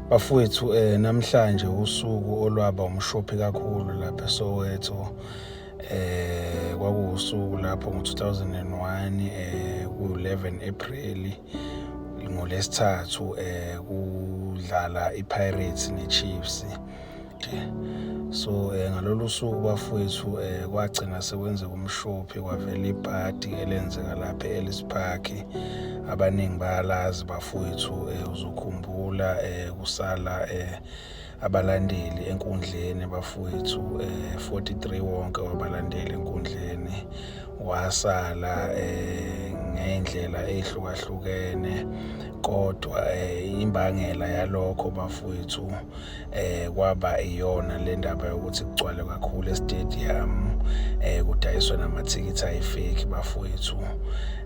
Bafowethu eh namhlanje usuku olwaba umshophi kakhulu lapha eSoweto eh kwakuwusuku lapho ngo-2001 eh ku-11 April ngolesithathu eh kudlala iPirates neChiefs so um ngalolu suku bafowethu um kwagcina sekwenzeka umshophi kwavela ibhadi elenzeka lapha e-ellis park abaningi bayalazi bafowethu um uzokhumbula um kusala um abalandeli enkundleni bafowethu um 43 wonke wabalandeli enkundleni wasala um ngey'ndlela ey'hlukahlukene kodwa um imbangela yalokho bafowethu eh kwaba iyona le ndaba yokuthi kugcwale kakhulu estadium eh kudayiswe namathikithi ayifake bafowethu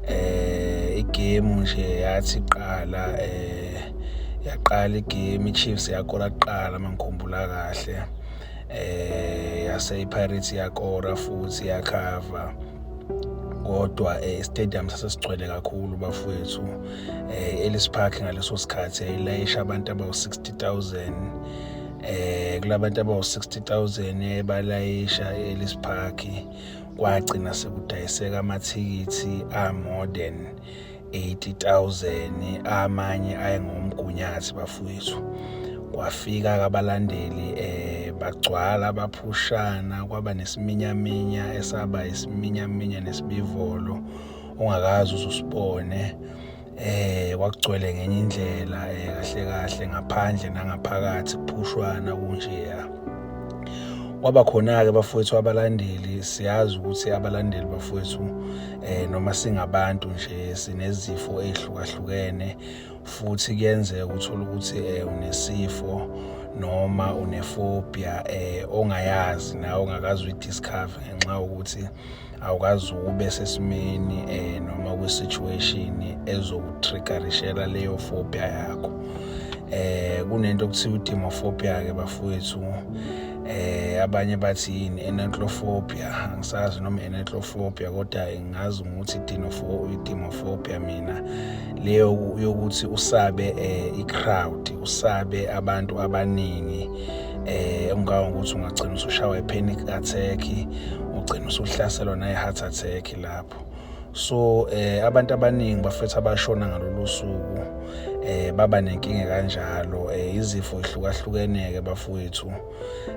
eh igame nje yathi qala eh yaqala igame iChiefs yakora kuqala mangikhumbula kahle eh yase iPirates yakora futhi yakhava kodwa eh, stadium sasesigcwele kakhulu bafowethu eh, Ellis Park ngaleso sikhathi yayilayisha abantu abawu-60,000 eh kulabantu abawu-60,000 ebalayisha e-Ellis Park kwagcina sekudayiseka amathikithi a-more than 80,000 amanye ayengomgunyathi bafowethu kwafika kabalandeli eh bagcwala baphushana kwaba nesiminyaminya esaba isiminyaminya nesibivolo ongakazi uzusibone eh kwakugcwele ngenye indlela eh kahle kahle ngaphandle nangaphakathi kuphushwana kunje ya kwaba khona-ke bafowethu abalandeli siyazi ukuthi abalandeli bafowethu eh noma singabantu nje sinezifo ezihlukahlukene futhi kuyenzeka ukuthola ukuthi eh unesifo noma unefobia eh ongayazi nawe ongakazi uyidiscover ngenxa yokuthi awukazi ube sesimeni um noma kwi-situation ezokutriggerishela leyo phobia yakho um kunento okuthiwa udimophobia-ke bafowethu eh abanye bathi yini enentlofobia angisazi noma enentlofobia kodwa ngingazi ukuthi idimophobia mina leyo yokuthi usabe eh, i-crowd usabe abantu abaningi eh ungaka ukuthi ungagcina usushawa ipanic attack ugcina usuhlaselwa nayi heart attack lapho so eh abantu abaningi bafethu abashona ngalolu suku eh baba nenkinga kanjalo eh izifo ihlukahlukene ke bafowethu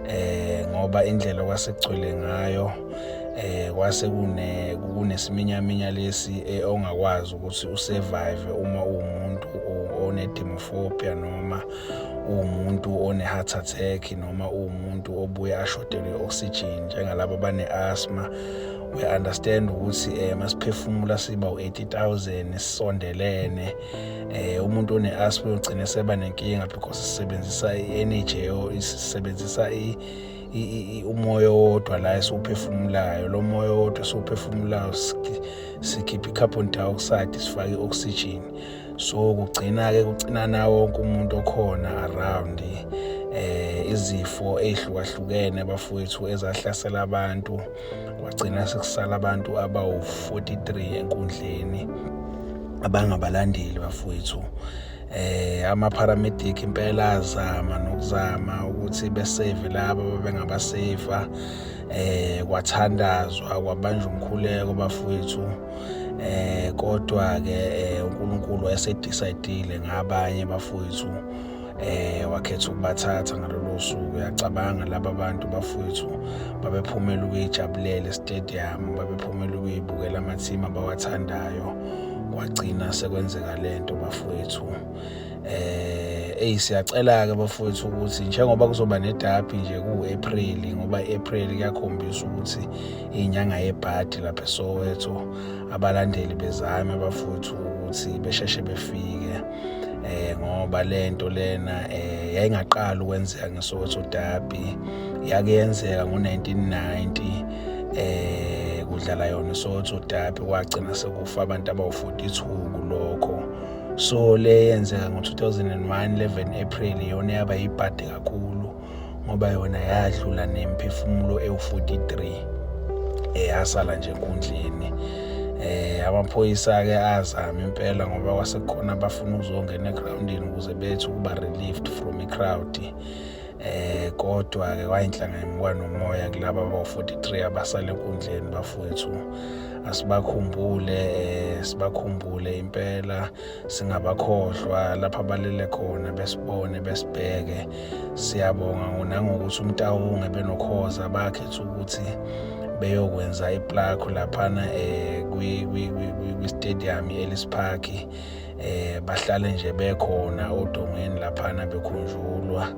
eh ngoba indlela kwasekugcwele ngayo eh kwase kune kunesiminyaminya lesi eh, ongakwazi ukuthi usurvive uma uwumuntu onedemophobia noma uwumuntu one-heart attack noma uwumuntu obuye ashodelwe i-oxygen njengalaba bane-asthma we understand ukuthi eh masiphefumula siba u80000 sisondelene eh umuntu one asthma ugcine seba nenkinga because sisebenzisa i-energy isebenzisa i umoya wodwa la esiwuphefumulayo lo moya wodwa esiwuphefumulayo sikhipha i-carbon dioxide sifake i-oxygen so kugcina-ke kucinana wonke umuntu okhona around eh izifo ezihlukahlukene bafowethu ezahlasela abantu kwagcina sekusala abantu abawu-43 enkundleni abangabalandeli bafowethu eh amapharamedic impela azama nokuzama ukuthi besave laba bebengabasave eh kwathandazwa kwabanjwa umkhuleko bafowethu eh kodwa ke eh, uNkulunkulu wayesedecide ngabanye bafowethu eh wakhetha ukubathatha ngalolo suku uyacabanga laba bantu bafowethu babephumela ukuyijabulela estadium babephumela ukuyibukela amathima abawathandayo kwagcina sekwenzeka lento bafowethu eh eyi siyacela ke bafowethu ukuthi njengoba kuzoba nedabi nje ku-April ngoba i-April kuyakhombisa ukuthi inyanga yebhadi lapha eSoweto abalandeli bezame bafowethu ukuthi besheshe befike eh ngoba lento lena eh yayingaqala ukwenzeka ngeSoweto Derby yake yenzeka ngo1990 eh kudlala yona iSoweto Derby kwagcina sekufa abantu abawu42 kulokho so le yenzeka ngo-2001 11 april yona yaba yibhadi kakhulu ngoba yona yadlula nemphefumulo ewu-43 eyasala nje enkundleni eh amaphoyisa-ke azama impela ngoba kwasekhona abafuna ukuzongena egrawundini ukuze bethi ukuba relieved from i-crowd Eh kodwa-ke wayinhlanga yemukwa nomoya kulaba abawu-43 abasale enkundleni bafowethu asibakhumbule eh sibakhumbule impela singabakhohlwa lapha balele khona besibone besibheke siyabonga ngonangokuthi umtawunge benokhoza bakhetha ukuthi beyokwenza iplakho laphana eh kwi-stadium i-ellis park eh bahlale nje bekhona odongeni laphana bekhunjulwa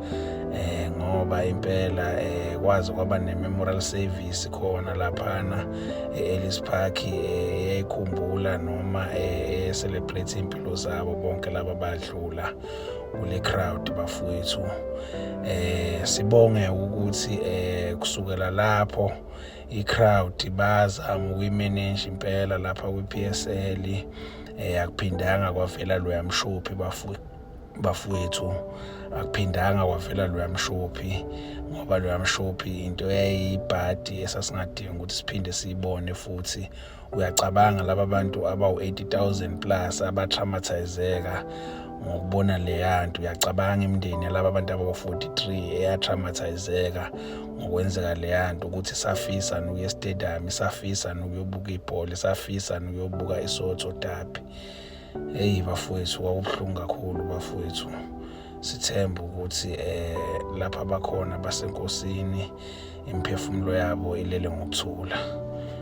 eh ngoba impela eh kwazi kwaba ne memorial service khona laphana eEllis eh, Park eh, eyayikhumbula noma eh celebrate impilo zabo bonke laba badlula kule crowd bafowethu eh sibonge ukuthi eh kusukela lapho i crowd bazama ukuyimanage impela lapha kwi PSL um akuphindanga kwavela loya mshophi bafowethu akuphindanga kwavela loya mshophi ngoba loya mshophi into eyayiyibhadi esasingadingi ukuthi siphinde siyibone futhi uyacabanga laba bantu abawu-80 000 plus abatraumatizeka ngokubona leya nto uyacabanga imindeni yalaba abantu abako-43 eyatraumatizeka ngokwenzeka leya nto ukuthi isafisa nukuya estadium isafisa nukuyobuka ibhola isafisa nukuyobuka isotho dabi eyi bafowethu kwakubuhlungu kakhulu bafowethu sithemba ukuthi um lapha bakhona basenkosini imiphefumulo yabo ilele ngokuthula